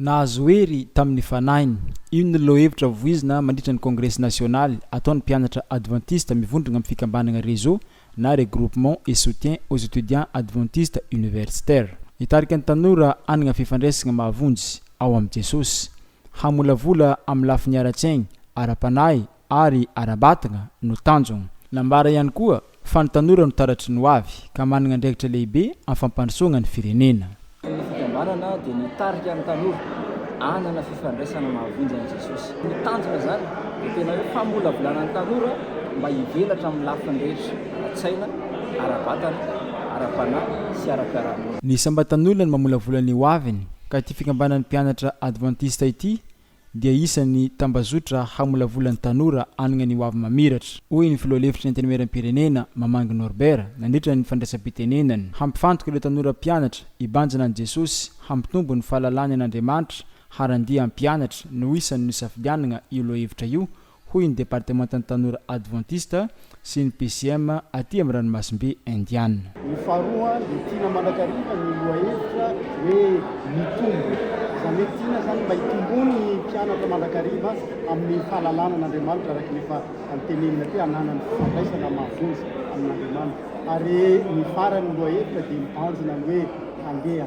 Nahazo hery tamin'ny fanahiny. Io no lohahevitra voizina mandritra ny kongresy nasionaly ataon'ny mpianatra advantista mivondrogna amin'ny fikambanagna Réseau na Regroupement et Soutien aux Etudiants Adventistes Universitaires. Nitarika ny tanora hanagna fifandraisagna mahavonjy ao amin'i Jesosy, hamolavola amin'ny lafiny ara-tsaigny, ara-panahy, ary ara-batagna no tanjogna. Nambara ihany koa fa ny tanora no taratry ny hoavy ka managna andraikitra lehibe amin'ny fampandrosoagna ny firenena. Ny fikambanana dia mitarika ny tanora hanana fifandraisana mahavonjy amin'i Jesosy. Ny tanjona izany dia tena hoe famolavolana ny tanora mba hivelatra amin'ny lafiny rehetra ara-tsaina, ara-batana, ara-panahy sy ara-piarahamonina. Ny sambatan'olona no mamolavola ny hoaviny ka ity fikambanan'ny mpianatra advantista ity dia isan'ny tambazotra hamolavola ny tanora hanagna ny hoavy mamiratra, hoy ny filoha lefitry ny Antenimieram-pirenena, Mamangy Norbert, nandritra ny fandraisam-pitenenany. Hampifantoka ireo tanora mpianatra hibanjina an'i Jesosy, hampitombo ny fahalalany an'Andriamanitra, harandia hampianatra no isan'ny nosafidianagna io lohahevitra io, hoy ny Departemantan'ny Tanora Advantista sy ny PCM aty amin'ny Ranomasimbe Indiana. Ny faharoa dia tiana mandrakariva ny lohahevitra hoe mitombo. Izany hoe tiana izany mba hitombon'ny mpianatra mandrakariva amin'ny fahalalana an'Andriamanitra araka ny efa tenenina teo, hananany fifandraisana mahavonjy amin'Andriamanitra. Ary ny faran'ny lohahevitra dia mibanjina ny hoe handeha.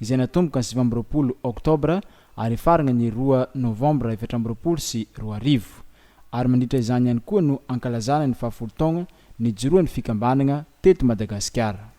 izay natomboka ny sivy amby roapolo Oktobra ary hifarana ny roa Novambra efatra amby roapolo sy roa arivo, ary mandritra izany ihany koa no ankalazana ny fahafolo taogna nijoroan'ny fikambanagna teto Madagasikara.